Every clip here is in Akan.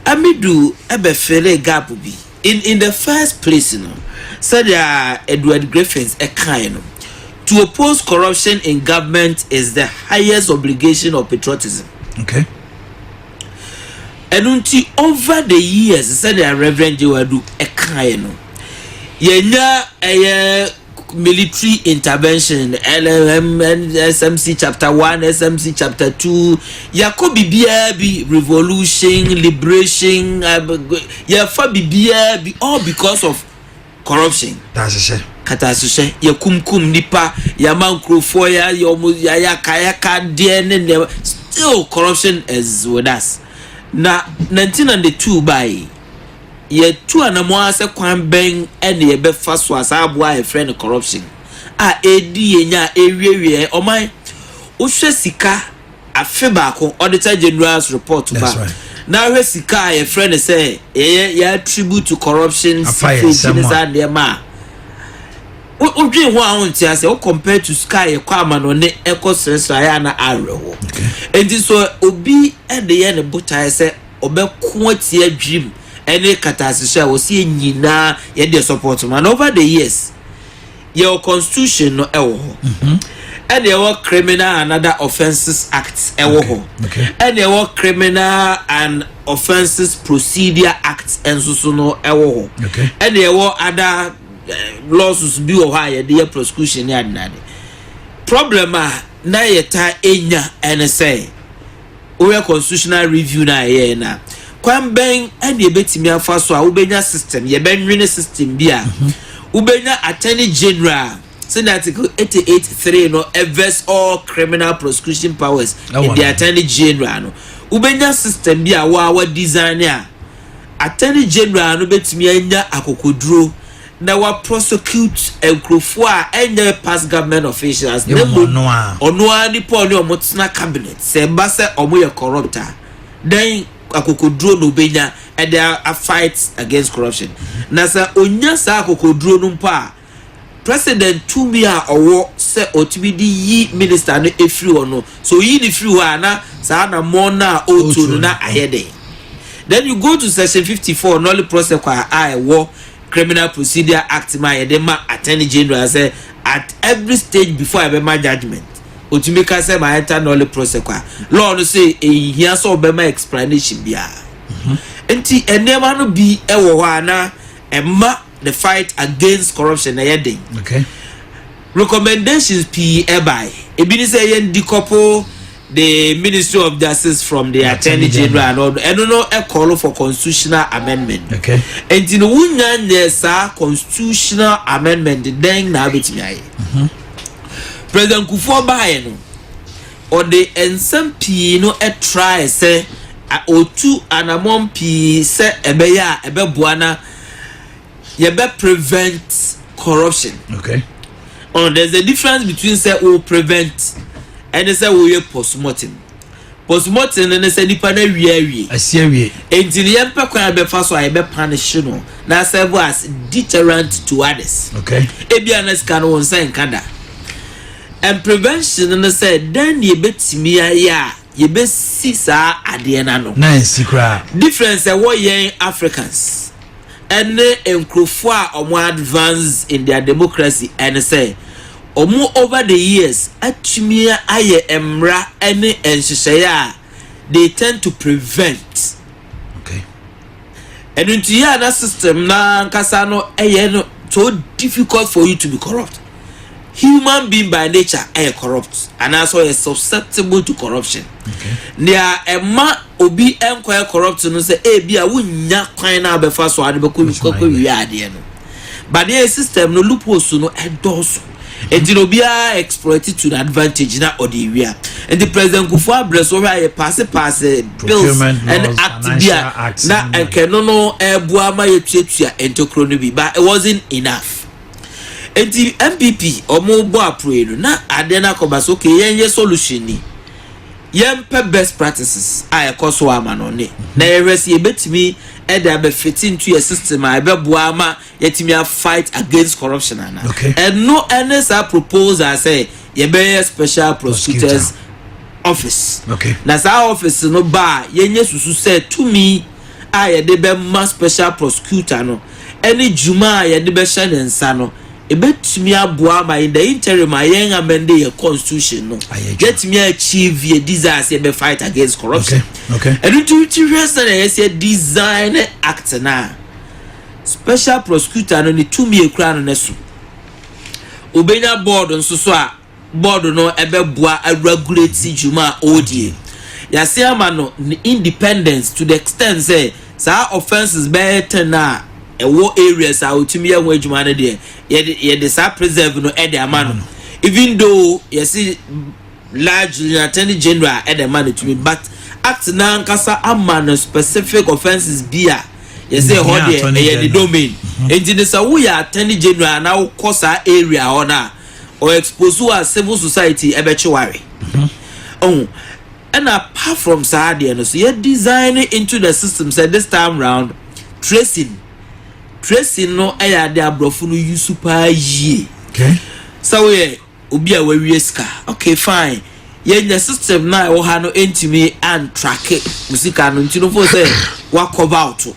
Amidu bɛfeelee gap bi. In in the first place no, sɛnea Edward Griffiths kae no, To oppose corruption in government is the highest obligation of patriotism. Okay. Ɛno nti, over the years, sɛnea Reverend Joe Adu kae no, yɛnya ɛyɛ military intervention SMC chapter one SMC chapter two yɛkɔ biribiara bi revolution liberation yɛfa biribiara bi all because of corruption. Katasehyɛ. Katasehyɛ yɛkumkum nipa yɛama nkurɔfoɔ yɛayɛ wɔn yɛayɛ akayaka deɛ ne nneɛma still corruption is with us na nanti na ne two baayi. Yɛatu anammɔn ara sɛ kwan bɛn na yɛbɛfa so a saa aboa a yɛfrɛ no corruption a ɛredi yɛn nya a ɛrewiawia ɔman. Wohwɛ sika afe baako Auditor General's report ba na hwɛ sika a yɛfrɛ no sɛ yɛyɛ yɛ attribute to corruption secret ne saa nneɛma a wodwen ho a wonte ase wo compare to sika a yɛkɔ amanɔne ɛkɔ srɛsrɛ ayɛ a na awerɛhoɔ. Enti so obi de yɛ ne botaeɛ sɛ ɔbɛko atia dwirim ne kataase so a ɛwɔ sɛ yɛn nyinaa yɛde support ma. And over the years, yɛwɔ constitution no ɛwɔ hɔ. Mm-hmm. ɛna ɛwɔ criminal and other offences act ɛwɔ hɔ ɛna ɛwɔ criminal and offences procedure act nso so no ɛwɔ hɔ ɛna ɛwɔ other eh, lawsuits bi wɔ hɔ a yɛde yɛ prosecution ne adenade problem a na yɛta enya ɛne sɛ wohwɛ constitutional review no a ɛyɛɛ no a, kwan bɛn na yɛbɛtumi afa so a wobɛnya system, yɛbɛnwene system bi a mhm. wobɛnya attorney general a sɛde article 88 3 no ɛvɛs all criminal prosecution powers in the attorney general no wobɛnya system bi a wɔawa design a attorney general no bɛtumi anya akokoduro na wa prosecute nkurɔfoɔ a ɛnyɛ past government officials na mmom ɔno ara nipa ɔne ɔmo tena cabinet sɛ ɛba sɛ ɔmo yɛ corrupt a dɛn akokoduro na obenya ɛde a fight against corruption na sɛ onya saa akokoduro no mpo a president tumi a ɔwɔ sɛ ɔtumi de yi minister no efiri hɔ no so oyi ne firi hɔ a na saa na mɔn no a ɔretuo no na ayɛ dɛn then you go to section fifty four nolly prosecua a ɛwɔ Criminal Procedure Act mu a yɛde ma Attorney General sɛ at every stage before yɛbɛma judgement ɔtumi ka sɛ ma yɛnta nullip process kɔ a, law no se ɛnhia sɛ ɔbɛma explanation biara. Nti nneɛma no bi wɔ hɔ a na ɛma the fight against corruption no yɛ den. Recommendations pii bae. Ebi ne sɛ yɛn decouple the ministry of justice from the attorney general and all ɛno no call for constitutional amendment okay nti no wunya nyɛ saa constitutional amendment dɛn na abɛtumi ayɛ mhm. president kufuor baayɛ no ɔde nsɛm pii no ɛtrae sɛ otu anamɔn pii sɛ ɛbɛyɛ a ɛbɛboa na yɛbɛ prevent corruption okay oh there's a difference between sɛ o prevent ɛne sɛ o yɛ postmortem postmortem no ne sɛ nipa no awie awie asi awie enti no yɛmpɛ kwan a bɛfa so a yɛbɛ punish no na serve as deterrent to others okay ebi a na sika no wɔn nsa nka da and prevention no sɛ dɛn na yɛbɛtumi ayɛ a yɛbɛsi saa adeɛ no ano na nsi koraa difference ɛwɔ yɛn africans ɛne nkurɔfoɔ a ɔmo advance in their democracy ɛne sɛ ɔmo over the years atumi ayɛ mmra ɛne nhyehyɛeɛ a they tend to prevent okay ɛno nti yɛ a na system no ankasa no ɛyɛ no so difficult for you to be corrupt. human being by nature yɛ corrupt anaasɛ ɔyɛ susceptible to corruption nea ɛma obi nkɔyɛ corrupt no sɛ ebi a wonnya kwan na abɛfa so ade bɛkɔ kɔkɔ wie adeɛ no badeɛ system no loopholes no ɛdɔɔso nti na obiara exploit to the advantage na ɔde ewia nti president kufu abrɛ so hwɛ ayɛ paase paase bills ɛne act bi a na nkɛno no ɛboa ma yɛtuatua ntokuro no bi but it wasn't enough. Enti NPP ɔmo bɔ aporɔyi no na adeɛ no akɔba sɛ okay yɛn yɛ solution ni. Yɛn pɛ best practices a ɛkɔ so a ama no ne na yɛ hwɛ sɛ yɛ bɛtumi ɛde abɛ fete ntu yɛ system a ɛbɛ boa ama yɛ tumi a fight against corruption ana. Ɛno ɛne saa proposal sɛ yɛ bɛ yɛ special prosecutors office. Na saa office no ba a yɛ nyɛ susu sɛ tumi. a yɛde bɛma Special Prosecutor no ne dwuma a yɛde bɛhyɛ ne nsa no, ebetumi aboa ama in the interim a yɛn amɛnde yɛn constitution no, yɛatumi achieve yɛn desires yɛbɛ fight against corruption. Ɛno nti wokyi hwɛ sɛnea yɛsi adesign ne act no a, Special Prosecutor no ne tumi a ekura no ne so. Obenya board nso so a bɔɔdo no bɛboa aregulate dwuma a ɔredi yi. Yɛasen ama no ne independence to the extent sɛ saa offences bɛyɛ ten a ɛwɔ areas a ɔtumi yɛ ho adwuma no deɛ, yɛde yɛde saa preserve no de ama no. Even though yɛsi largely na attorney general de ma no tumi but act no ankasa ama no specific offences bi a yɛsɛ ɛhɔ deɛ ɛyɛ ne domain. Nti no sɛ woyɛ attorney general na wokɔ saa area hɔ no a ɔ expose wo as civil society ɛbɛkye wo awe ɔho ɛna apart from saa adeɛ no so yɛ design into the system sɛ this time round tracing tracing no ɛyɛ adeɛ aborɔfo no use paa yie sɛ woyɛ obi a wawie sika okay fine yɛnya system no a ɛwɔ ha no ɛntumi antrake wo sika no nti no fo sɛ wakɔva woto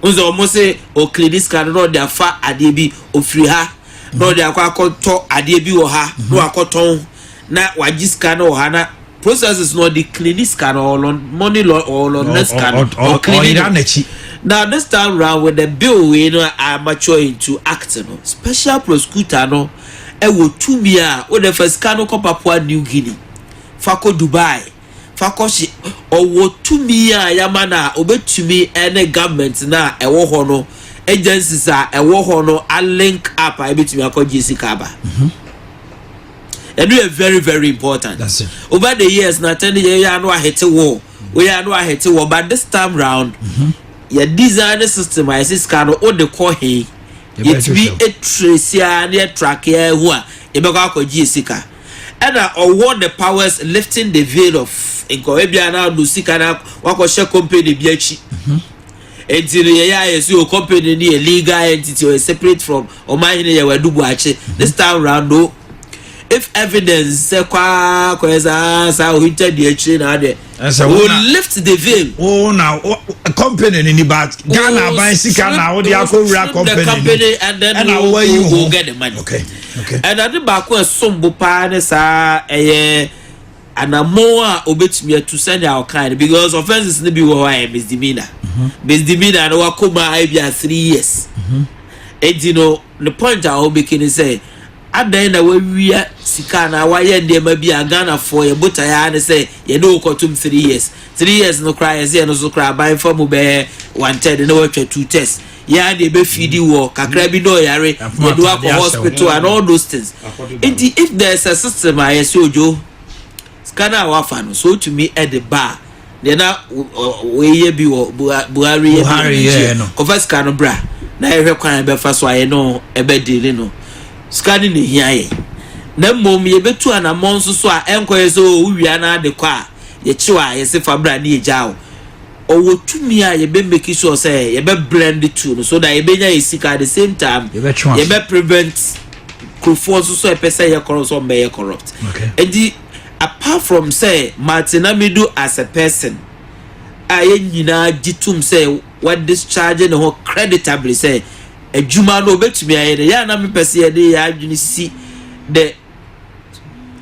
wo sɛ ɔmo se ɔklini sika no na ɔde afa adeɛ bi ofiri ha na ɔde akɔ akɔtɔ adeɛ bi wɔ ha na wakɔtɔn na wagye sika no wɔ ha na processes no ɔde clean sika no ɔlɔ money lɔ ɔlɔ na sika no ɔclean no na this time round with the bill wei no a mature into act no special prosecutor no ɛwɔ tumi a wode fa sika no kɔ Papua New Guinea fa kɔ Dubai fa kɔhye ɔwɔ tumi a yɛama no a ɔbɛtumi ne government no a ɛwɔ hɔ no agencies a ɛwɔ hɔ no a link up a ɛbɛtumi akɔgye sika aba ɛno yɛ very very important over the years na tɛn de yɛyɛ ano ahete wɔ wɔyɛ ano ahete wɔ but this time round mm-hmm. yɛ design system a yɛsɛ sika no wode kɔ he yɛtumi ɛtrɛsi a ne ɛtrake a ɛho a yɛbɛkɔ akɔgye sika Ɛna ɔwɔ the powers lifting the veil of nka ebia na ɔno sika na wakɔhyɛ company bi akyi nti no yɛyɛ ayɛ so yɛ company no yɛ legal entity ɔyɛ separate from ɔman hene yɛ wadu buakye this time round no if evidence sɛ kwaa kɔyɛ saa saa ohinta di akyire na adeɛ ɛsɛ wo na lift the veil wo na company ni but Ghana aban sika na wo de akɔwura company ni ɛna wo ayi wo okay okay ɛna de baako ɛsom bo paa ne saa ɛyɛ anamɔn a obetumi atu sɛnea ɔkan no because offences no bi wɔ hɔ a yɛ misdemeanor mhm. misdemeanor no wakɔ mu a ebi a three years mhm. eti no Ne point a ɔbeki ne sɛ adɛn na wawia sika anaa wayɛ nneɛma bi a Ghanafoɔ yɛ botaeɛ ara ne sɛ yɛne wo kɔtom three years. Three years no koraa yɛse ɛno so koraa aban fa mu bɛyɛ one third na watwa two thirds. Yɛn ara deɛ ɛbɛfidi wo hɔ kakra bi na ɔyare yɛde wo akɔ hospital and all those things. Nti if there is a system a yɛse Ojo sika no a wafa no sɛ ɔtumi de ba a, deɛ na wɔyɛ bi wɔ buhari yɛ buhari yɛ no kɔfa sika no bra na yɛhwɛ kwan a yɛbɛfa so a yɛ no ɛbɛdi ne no sika no na ehia yɛ na mmom yɛbɛtu anammɔn nso so a ɛnkɔyɛ sɛ o wowia no ade kɔ a yɛkyew a yɛse fa bra ne yɛgya o ɔwɔ tumi a yɛbɛ make sure sɛ yɛbɛ blend two no so that yɛbɛnya yɛ sika at the same time yɛbɛ prevent kurofoɔ nso so ɛpɛ sɛ yɛ corrupt so ɔmbɛyɛ corrupt ɛdi Apart from sɛ mate Namidu as a person a yɛn nyinaa gye tom sɛ wadischarge ne ho creditably sɛ adwuma no obetumi ayɛ no, ɛyɛ a na mepɛ sɛ yɛde yɛn adwene si the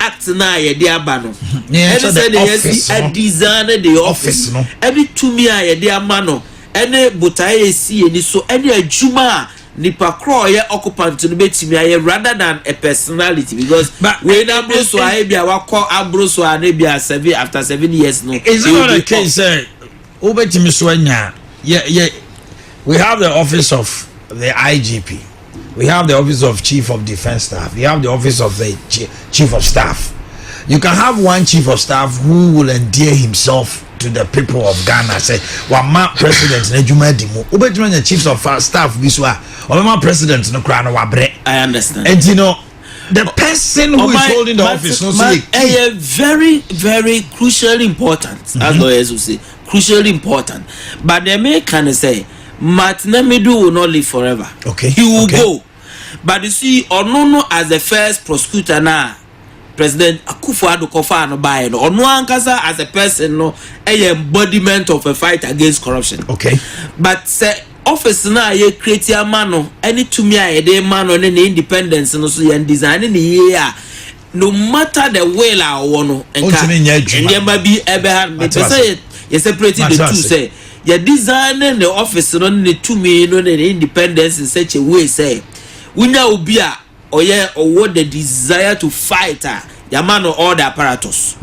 act no a yɛde aba no ɛne sɛ ne yɛsi adesign the office ɛne tumi a yɛde ama no ɛne botae a ɛsi yɛn ani so ɛne adwuma a nipa korɔ a ɔyɛ occupant no bɛtumi ayɛ rather than a personality because wei no aboro so a ebi a wakɔ aboro so a na ebi a seven after seven years no. is it not a case sɛ wobɛtumi so anya yɛ yɛ we have the office of the igp we have the office of chief of defence staff we have the office of the chief of staff you can have one chief of staff who will endear himself. to the people of ghana sɛ wama president no adwuma adi mu wobɛtumi anya chiefs of staff bi so a ɔbɛma president no koraa no wabrɛ nti no the person who oh, is holding the office no so yɛ key ɛyɛ very very crucially important mm -hmm. as lawyers will say crucially important but the main can is say martin amidu will not live forever okay he will okay. go but you see onono as the first prosecutor now President Akuffo Addo kɔfaa no baeɛ no, ɔno ankasa as a person no ɛyɛ embodiment of a fight against corruption. Okay. But sɛ office no a yɛ create ama no ɛne tumi a yɛde ma no ne ne independence no so yɛn design ne yie a no matter the will a ɔwɔ no nka nneɛma bi ɛbɛha no mepɛ sɛ yɛ yɛ separate the two sɛ yɛ design ne ne office no ne ne tumi no ne ne independence in such a way sɛ wonya obi a ɔyɛ ɔwɔ the desire to fight a yɛama no all the apparatus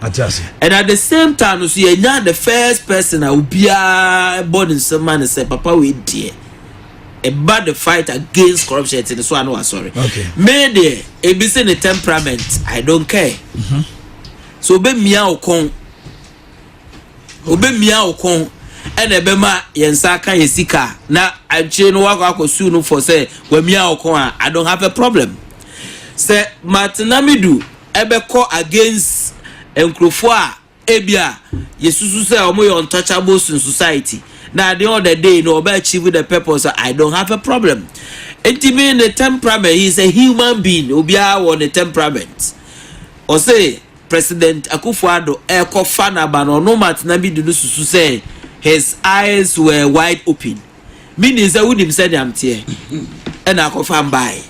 and at the same time no so yɛnya the first person a obiara bɔ ne nsɛm ma no sɛ papa wei deɛ ɛba the fight against corruption ɛte ne so a na wasɔre me deɛ ebi se ne temperament i don't care mm-hmm. so obɛmia wo kɔn Wobemia wo kɔn na ɛbɛma yɛn nsa aka yɛn sika a, na akyire no woakɔ akɔ sue no fɔ sɛ wamia wo kɔn a, I don't have a problem. Sɛ Martinamidu bɛkɔ against nkurɔfoɔ a ebi a yɛsusu sɛ wɔyɛ untouchables in society na at the end of the day no ɔbɛ achieve the purpose a, I don't have a problem. Nti me ne temperament, he is a human being, obiara wɔ ne temperament. Ɔse President Akufo Addo ɛkɔ fa na ba no ɔno Martina bi di no susu sɛ his eyes were wide open me nim sɛ wo nim sɛ nea mteɛ ɛna akɔ fa mbae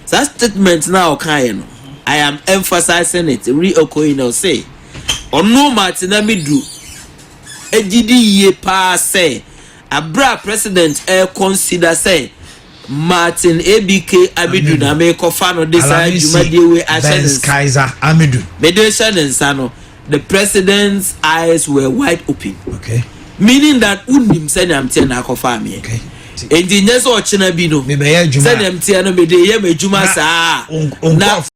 saa statement na ɔka yɛ no I am emphasizing it re okoyi na ɔse ɔno Martina me du egyidi yie paa sɛ Bere a President Air consider sɛ Martin ABK Amidu na merekɔfa no de saa dwumadie wei ahyɛ ne nsa, mede rehyɛ ne nsa no, the President's eyes were wide open. Okay. Meaning that wonim sɛnea mteɛ na akɔfaa meɛ. Okay. Enti nyɛ sɛ ɔkyena bi no, sɛnea mteɛ no mede yɛ m'adwuma saa na